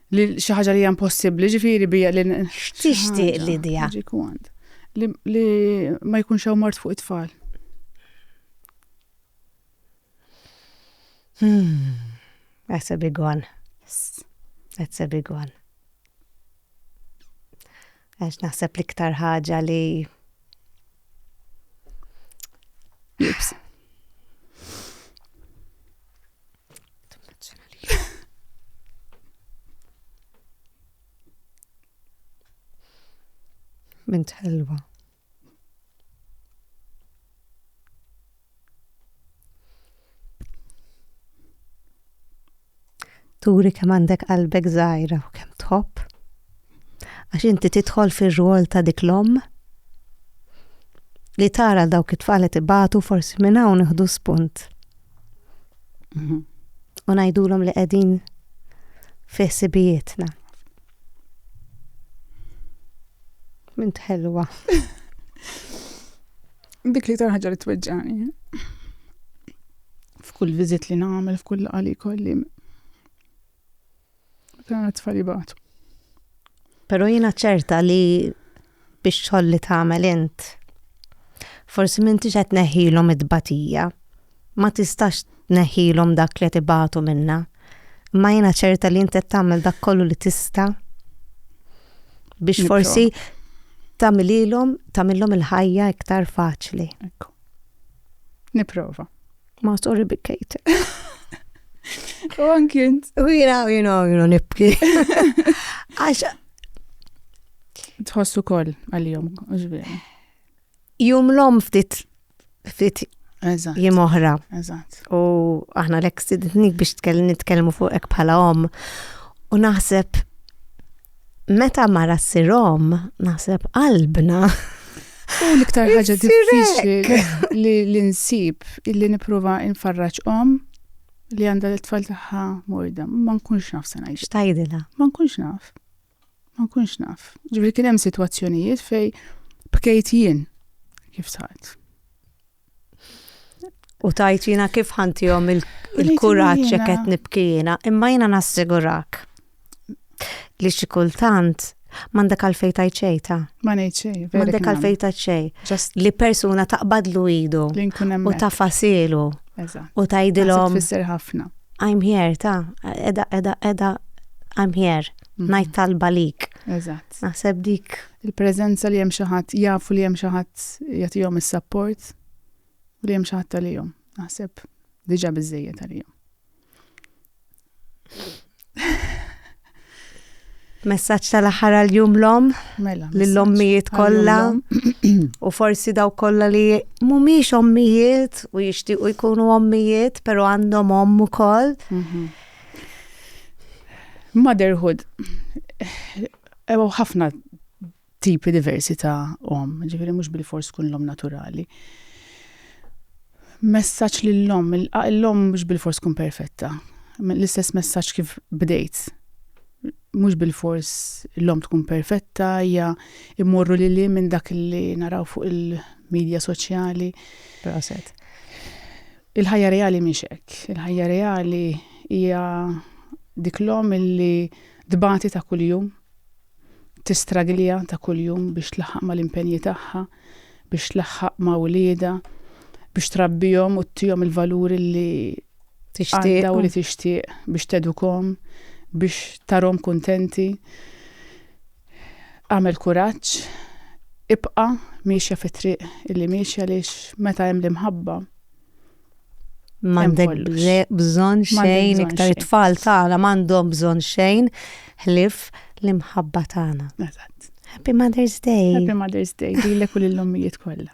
Li xi ħaġa li hija impossibbli, ġifieri bija li tixtieq li dija. Li ma jkunx hawn mart fuq it-tfal. Hmm. That's a big one. That's a big one. Għax naħseb l-iktar ħaġa li Bint ħelwa. turi kemm għandek qalbek żgħira u kemm tħobb. Għax inti tidħol fir-rwol ta' dik l-om li tara dawk it-tfal qed ibatu forsi minn hawn iħdu spunt. Mhm. U ngħidulhom li qegħdin fi ħsibijietna. Mint ħelwa. Dik li tarħġa li tweġġani. F'kull viżit li nagħmel, f'kull qali kolli. Kien tfali batu. Pero jina ċerta li biex ċolli tagħmel int. Forsi minti qed neħilhom id-batija. Ma tistax tneħħilhom dak li qed ibatu minnha, imma jiena ċerta li inti qed tagħmel dak kollu li tista' biex forsi tagħmililhom tagħmilhom il-ħajja iktar faċli. Ekku. Niprova. Ma sorry bikkejt. U anki int. U jina, jina, jina nibki. Għax. Tħossu kol għal-jom, ġveri. Jum l-om ftit ftit jiem oħra. U aħna l-ek sidnik biex nitkellmu fuq ek bħala om. U naħseb meta mara ssir om, naħseb qalbna. U l-iktar ħaġa diffiċli li l-insib illi niprofa infarraċ om li għanda l-tfal taħħa morda. Ma nkunx naf sena. Xtajdila? Ma nkunx naf. Ma nkunx naf. Ġifieri kien hemm sitwazzjonijiet fej bkejt jien kif sart. U tajt jina kif ħantijom il-kuraċ il qed nibki jina, imma jina nassigurak li xi kultant m'għandek għalfejn tajt xejta. Ma ngħid xejn. M'għandek għalfejn tajt xejn. Li persuna taqbadlu idu u ta' fasilu. U tajdilhom. Tfisser ħafna. I'm here, ta' edha, edha, edha, I'm here. mhm. ngħid talba lik. Eżatt. Naħseb dik. Il-preżenza li hemm xi ħadd jafu li hemm xi ħadd jagħtihom is-sapport u li hemm xi ħadd għalihom. Naħseb diġà biżejjed għalihom. Messaċ tal-aħħar għal-jum l-om, mela, l-ommijiet kollha u forsi daw kollha li mhumiex ommijiet u jixtiequ jkunu ommijiet, però għandhom omm ukoll. Mhm. Motherhood, hemm eh, ħafna tipi diversi ta' om, ġifiri mhux bil-fors kun l-om naturali. Messaġġ lill-om, l-om mhux bil-fors kun perfetta. L-istess messaġġ kif bdejt. Mhux bil-fors l-om tkun perfetta, hija immorru li li minn dak li naraw fuq il-medja soċjali. Proset. Il-ħajja reali mhix hekk. Il-ħajja reali hija dik l-omm illi tbati ta' kuljum, tistraglja ta' kuljum biex tlaħħaq mal-impenji tagħha, biex tlaħħaq ma' wliedha, biex trabbihom u ttihom il-valuri li għandha u li tixtieq, biex tedukhom, biex tarahom kuntenti. Agħmel kuraġġ, ibqa' miexja fit-triq li miexja għaliex meta hemm l-imħabba M'għandek bżonn xejn iktar it-tfal tagħna m'għandhom bżonn xejn ħlief l-imħabba tagħna. Eżatt. Happy Mother's Day. Happy Mother's Day lilek u lill-ommijiet kollha.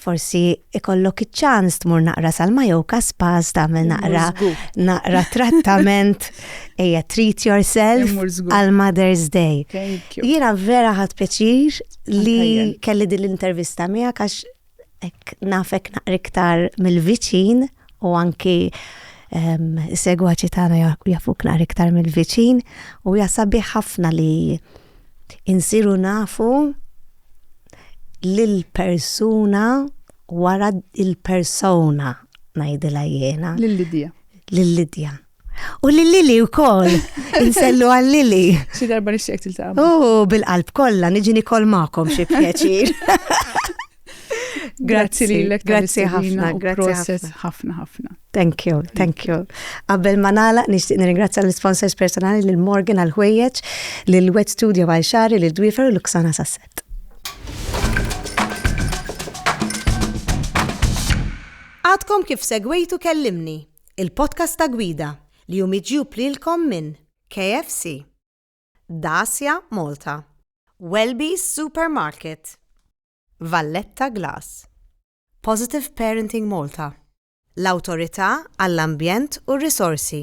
Forsi ikollok iċ-ċans tmur naqra sal-Majoka Spas tagħmel naqra naqra trattament ejja treat yourself għal Mother's Day. Jiena vera ħadd pjaċir li kelli din l-intervista miegħek għax hekk nafek naqra iktar mill-viċin u anki ehm, segwaċi tagħna jafuk naqra iktar mill-viċin u jasabi ħafna li insiru nafu lill-persuna wara il-persona ngħidilha jiena. Lil Lidja. Lil Lidja. U lil Lili wkoll. Insellu għal Lili. Xi darba nixtieq tiltaqa'. U bil-qalb kollha niġi nikol magħkom xi pjaċir. Grazzi lilek. Grazzi ħafna. Grazzi ħafna ħafna. Thank you, thank you. Qabel ma nagħlaq nixtieq nirringrazzja l-sponsors personali lil Morgan għal ħwejjeġ, lil Wet Studio għal xari, lil Dwifer u Luxana Sasset. Għadkom kif segwejtu kellimni, il-podcast ta' gwida li jum iġju plilkom minn KFC, Dacia Malta, Welby's Supermarket, Valletta Glass, Positive Parenting Malta, l-Awtorità għall-Ambjent u r-Risorsi.